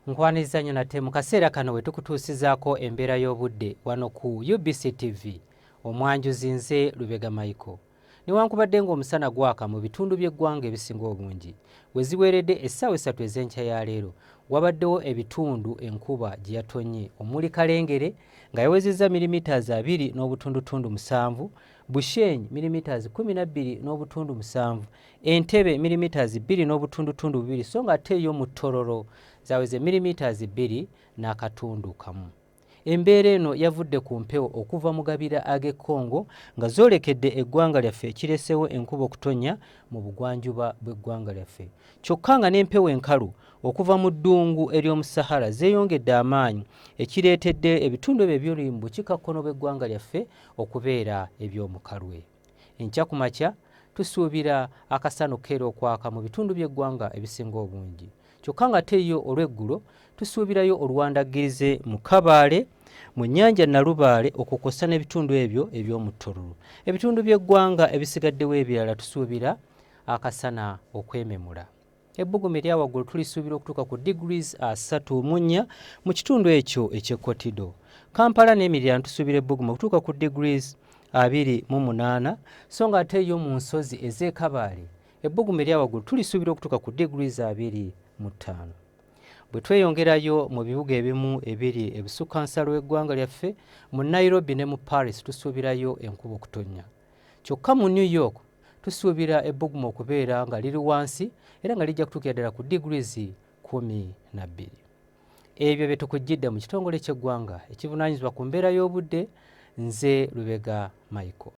nkwaniriza nnyo nate mu kaseera kano we tukutuusizaako embeera y'obudde wano ku ubc tv omwanjuzi nze lubega maiko newankubadde ng'omusana gwaka mu bitundu by'eggwanga ebisinga obungi we ziweeredde essaawa essatu ez'enkya ya leero wabaddewo ebitundu enkuba gye yatonnye omuli kalengere nga yawezezza milimitaz abiri n'obutundutundu musanvu bushenyi milimitaz kumi na bbiri n'obutundu musanvu Entebe milimeters bbiri n'obutundutundu bubiri so nga ate yo mu Tororo zaweze milimeters bbiri n'akatundu kamu. Embeera eno yavudde ku mpewo okuva mu gabira ag'e Congo nga zoolekedde eggwanga lyaffe ekireesewo enkuba okutonnya mu bugwanjuba bw'eggwanga lyaffe kyokka nga n'empewo enkalu okuva mu ddungu ery'omu Sahara zeeyongedde amaanyi ekireetedde ebitundu ebyo eby'oli mu bukiikakkono bw'eggwanga lyaffe okubeera eby'omukalwe. Enkya ku makya tusuubira akasana okukeera okwaka mu bitundu by'eggwanga ebisinga obungi kyokka ng'ate yo olw'eggulo tusuubirayo oluwandaggirize mu Kabaale mu nnyanja Nalubaale okwo kwossa n'ebitundu ebyo eby'omu Tororo. Ebitundu by'eggwanga ebisigaddewo ebirala tusuubira akasana okwememula. Ebbugumu erya waggulu tulisuubira okutuuka ku degrees asatu mu nnya mu kitundu ekyo eky'e Kotido. Kampala n'emiriraano tusuubira ebbugumu okutuuka ku degrees abiri mu munaana so nga ate yo mu nsozi ez'e Kabaale ebbugumu erya waggulu tulisuubira okutuuka ku degrees abiri mu ttaano. Bwe tweyongerayo mu bibuga ebimu ebiri ebusukka nsalo w'eggwanga lyaffe mu Nairobi ne mu Paris tusuubirayo enkuba okutonnya. Kyokka mu New York tusuubira ebbugumu okubeera nga liri wansi era nga lijja kutuukira ddala ku degrees kkumi na bbiri. Ebyo bye tukujjidde mu kitongole ky'eggwanga ekivunaanyizibwa ku mbeera y'obudde. Nze Lubega Michael.